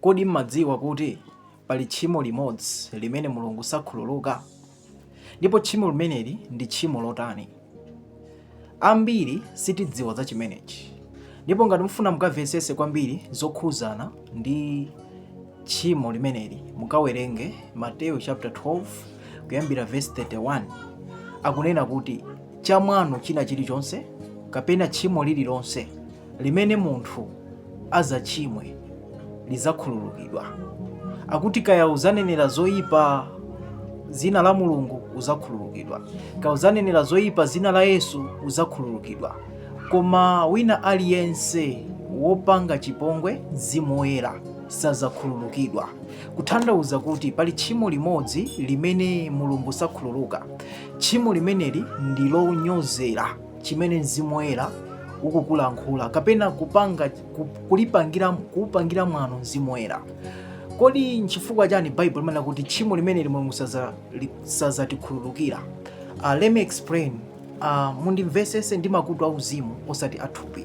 Kodi m'madziwa kuti pali tchimo limodzi limene Mulungu sakhululuka? Ndipo tchimo limeneli ndi tchimo lotani? Ambiri sitidziwa za chimenechi. Ndipo ngati mufuna mukamvesese kwambiri zokhuzana ndi tchimo limeneli, mukawerenge Mateyu chapter 12 kuyambira verse 31. Akunena kuti chamwano china chilichonse kapena tchimo lililonse limene munthu azatchimwe lizakhululukidwa akuti kaya uzanenera zoyipa zina la mulungu uzakhululukidwa kaya uzanenera zoyipa zina la yesu uzakhululukidwa koma wina aliyense wopanga chipongwe mzimu woyera sazakhululukidwa kuthandauza kuti pali tchimo limodzi limene mulungu sakhululuka tchimo limeneli ndi lonyozera chimene mzimu woyera ukukulankhula kapena kupanga ku- kulipangira kuupangira mwano mzimu woyera kodi nchifukwa chani Bible limanena kuti tchimo limeneli mulungu saza- li- sazatikhululukira uh, let me explain uh, mundimvesese ndi makutu auzimu osati athupi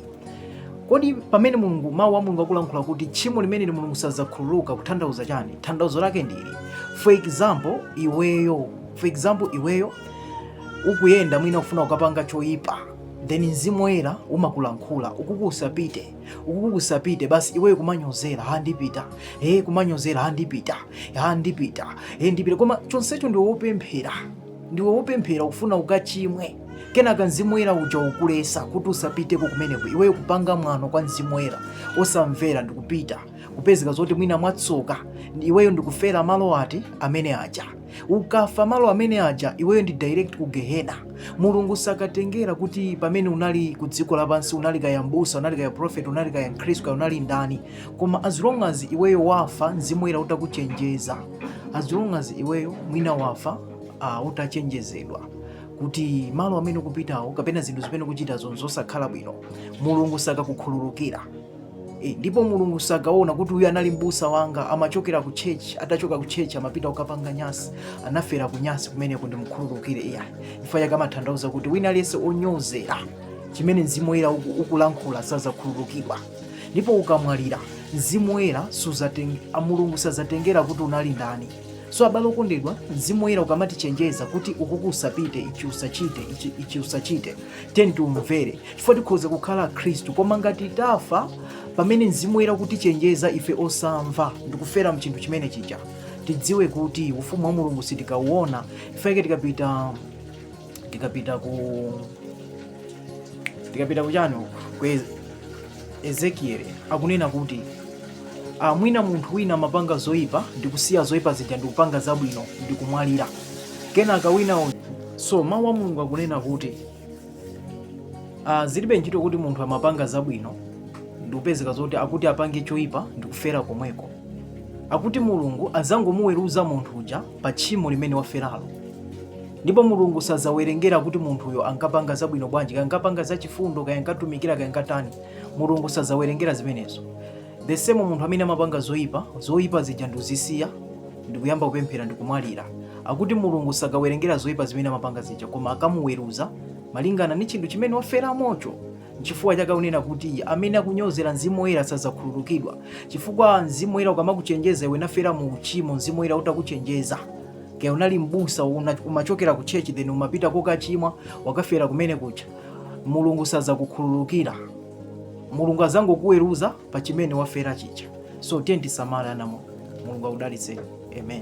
kodi pamene mulungu mawu a mulungu akulankhula kuti tchimo limeneli mulungu sazakhululuka kuthandauza chani thandauzo lake ndili for example iweyo for example iweyo ukuyenda mwina kufuna kukapanga choyipa then mzimu woyera umakulankhula ukuku usapite ukuku usapite basi iweyo kumanyozera ha ndipita e kumanyozera ha ndipita ha ndipita e ndipita koma chonsecho ndiwe wopemphera ndiwe wopemphera ukufuna ukachimwe kenaka mzimu woyera uja ukukulesa kuti usapiteko kumeneko iweyo kupanga mwano kwa mzimu woyera osamvera ndikupita kupezeka zoti mwina mwatsoka iweyo ndikufera malo ati amene aja ukafa malo amene aja iweyo ndi direct ku gehena mulungu sakatengera kuti pamene unali ku dziko lapansi unali kaya mbusa unali kaya prophet unali kaya mkhristu kaya unali ndani koma as long as iweyo wafa mzimu woyera utakuchenjeza as long as iweyo mwina wafa uh, utachenjezedwa kuti malo amene ukupitawo kapena zinthu zimene ukuchitazo nzosakhala bwino mulungu sakakukhululukira E, ndipo mulungu sakaona kuti uyu anali mbusa wanga amachokera ku church atachoka ku church amapita kukapanga nyasi anafera ku nyasi kumeneko ndimukhululukire iya chifukwa chake amathandauza kuti wina aliyense onyozera chimene mzimu woyera uku- ukulankhula sazakhululukidwa ndipo ukamwalira mzimu woyera suzateng- a mulungu sazatengera kuti unali ndani so abale okondedwa mzimu woyera ukamatichenjeza kuti ukuku usapite ichi usachite ichi, ichi usachite tiyeni tiumvere chifukwa tikhoza kukhala akhristu koma ngati tafa pamene mzimu woyera kutichenjeza ife osamva ndikufera mchinthu chimene chija tidziwe kuti ufumu wa mulungu sitikauona ifeke tikapita tikapita ku tikapita kuchani ku ezekieli akunena kuti mwina munthu wina amapanga zoyipa ndikusiya zoyipa zija ndikupanga zabwino ndikumwalira kenaka wina so mawu a mulungu akunena kuti zilibe ntchito kuti munthu amapanga zabwino ndikupezeka zoti akuti apange choyipa ndikufera komweko akuti mulungu adzangomuweruza munthu uja pa tchimo limene waferalo ndipo mulungu sadzawerengera kuti munthuyo ankapanga zabwino bwanji kaya ankapanga zachifundo kaya ankatumikira kaya ankatani mulungu sadzawerengera zimenezo The same munthu amene amapanga zoipa, zoipa zija ndikuzisiya ndikuyamba kupemphera ndikumwalira. Akuti Mulungu sakawerengera zoipa zimene amapanga zija koma akamuweruza malingana ndi chinthu chimene waferamocho. Nchifukwa chake akunena kuti amene akunyozera Mzimu Woyera sadzakhululukidwa. Chifukwa Mzimu Woyera ukamakuchenjeza iwe nkufera mu uchimo, Mzimu Woyera utakuchenjeza kaya unali mbusa umachokera ku church then umapita kokachimwa wakafera kumene kuja mulungu sadzakukhululukira mulungu azangokuweruza pa chimene wafera chija so tiyeni tisamale anamwa mulungu akudalitseni amen